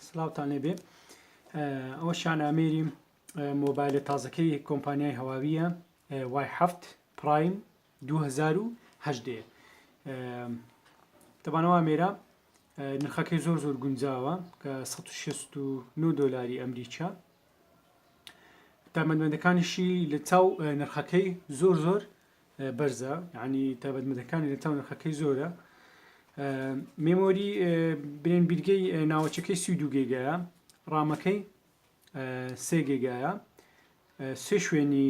سلاوتان لێبێ ئەوە شانامێری مۆبایلە تازەکەی کۆمپانیای هەواویە وای هەفت پرایم 2010 دەبانەوە مێرە نرخەکەی زۆر زۆر گونجاوە کە 1669 دلاری ئەمریکا تامەندەکانیشی لە چاو نرخەکەی زۆر زۆر بەرزە یعنی تابەت مەدەکانی لە تاو نرخەکەی زۆرە مێمۆری برێن بیرگەی ناوەچەکەی سی دو گێگایە ڕامەکەی سێ گێگایە سێ شوێنی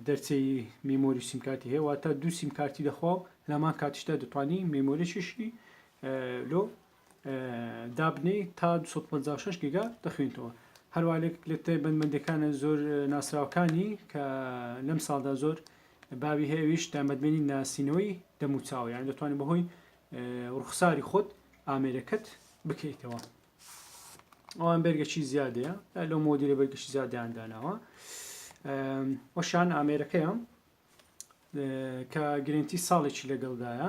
دەرچەی مێمۆری سیمکاتی هەیە واتە دوو سیمکارتی دەخوا و لەمان کاتیشدا دەتوانی مێمۆریشیشی لۆ دابنێی تا دوو سەد و پەنجا و شەش گیگا دەخوێنیتەوە هەروە لە لە تایبەتمەندەکانە زۆر ناسراوەکانی کە لەم ساڵدا زۆر باوی هەیەویش تامەدمێنی ناسینەوەی دەموچاوە یان دەتوانانی بەهۆی ڕوخساری خۆت ئامێرەکەت بکەیتەوە ئەوان بەرگەچی زیادەیە لە مۆدیرە بەرگەشی زیادیان داناوە وەشان ئامێرەکەیان کە گرنتی ساڵێکی لەگەڵدایە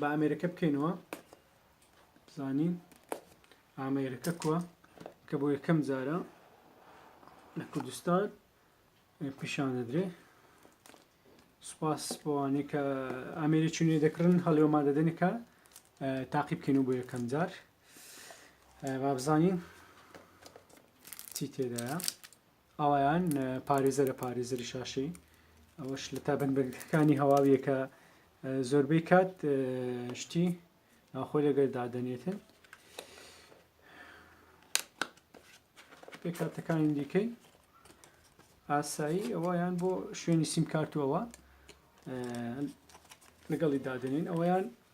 با ئامێرەکە بکەینەوە بزانین ئامێرەکە کووە کە بۆ یەکەم جارە لە کوردستان پیشان دەدرێ سوپاس بۆوانێک کە ئامێری چونێ دەکردن هەڵێوەما دەدەنێکە تاقی بکەین و بۆ یەکەم جار بابزانین چی تێدایە ئاوایان پارێزەرە پارێزەری شاشەی ئەوەش لە تابەن بەرگەکانی هەواویە کە زۆربەی کات شتی ناخۆی لەگەر دادەنێتن پێکاتەکانی دیکەی ئاسایی ئەوەیان بۆ شوێنی سیمکارتوەوە لەگەڵی دادنین ئەوەیان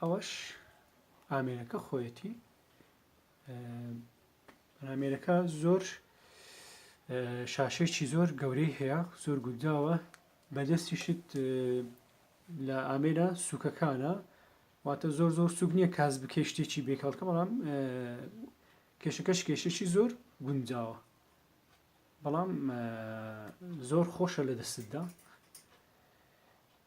ئەوەش ئامێرەکە خۆیەتی ئامێرەکە زۆر شاشێکی زۆر گەورەی هەیە زۆر گوداوە بەدەستیشت لە ئامێرە سوکەکانە واتە زۆر زۆر سوک نییە کاس بکە شتێکی بێکەڵکە بەڵام کێشەکەش کێشەی زۆر گونجاوە بەڵام زۆر خۆشە لە دەستدا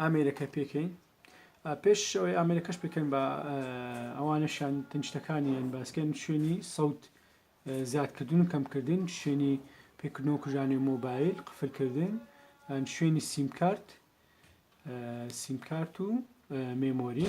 ئامێرەکە پێکەین پێش ئەوەی ئامێرەکەش پێکەن بە ئەوانەشان تنشتەکانیان باسکەن شوێنی سەوت زیادکردن و کەمکردن شوێنی پێکردنەوە کوژانی مۆبایل قفلکردن شوێنی سیمکارت سیمکارت و مێمۆری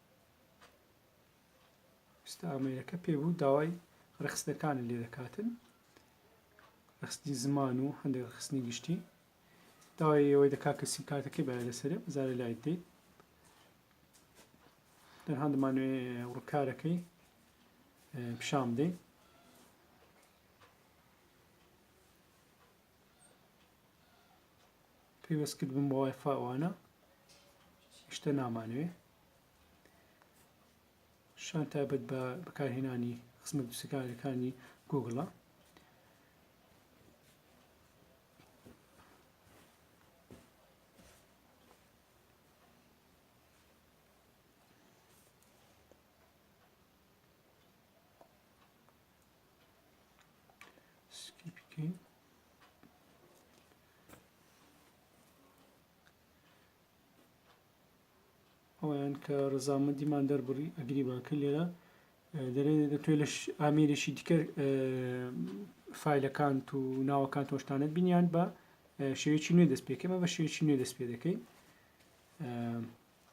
ئێستا ئامێرەکە پێ بوو داوای ڕێکخستنەکانت لێ دەکاتن ڕخستنی زمان و هەندێک ڕخستنی گشتی داوای ئەوەی دەکات کە سیم کارتەکەی بەە لەسەر زارە لای دەی تەنها دەمانوێ ڕکارەکەی پیشان بدەین پەیوەست کردبم بە وای فای ئەوانە شتە نامانوێ شان تایبەت بە بەکارهێنانی خزمەت دوسەکانەکانی گوگڵە ئەوەیان کە ڕزامەندیمان دەربڕی ئەگری باکە لێرە دەرێ دەتوێت لە ئامێرێکی دیکە فیلەکان و ناوەکان تۆشتانت بینیان بە شێوێکی نوێ دەست پێکەمە بە شێوێکی نوێ دەست پێ دەکەی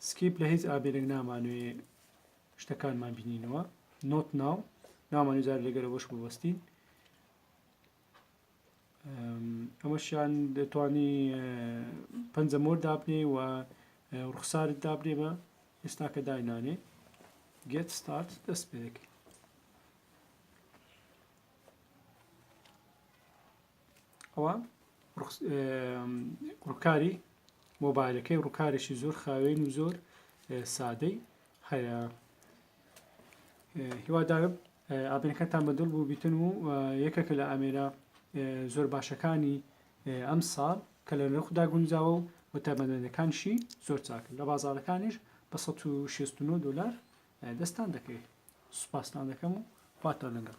سکیپ لە هیچ ئابێرێک نامانوێ شتەکانمان بینینەوە نۆت ناو نامانوزار لەگەرە بەش بوەستین ئەمەشیان دەتوانی پەنجە مۆر دابنێ و ڕوخسارت دابنێ بە ئێستا کە داینانێ گێت ستارت دەست پێ دەکەی ئەوە ڕووکاری مۆبایلەکەی ڕووکارێکی زۆر خاوێن و زۆر سادەی هەیە هیوادارم ئاپێنەکەتان بە دڵ بوو بیتن و یەکەکە لە ئامێرە زۆر باشەکانی ئەم ساڵ کە لە نرخدا گونجاوە و و تایبەتمەندەکانشی زۆر چاکن لە بازارەکانیش بە 1669 دلار دەستان دەکەوێت سوپاستان دەکەم و خواتان لەگەڵ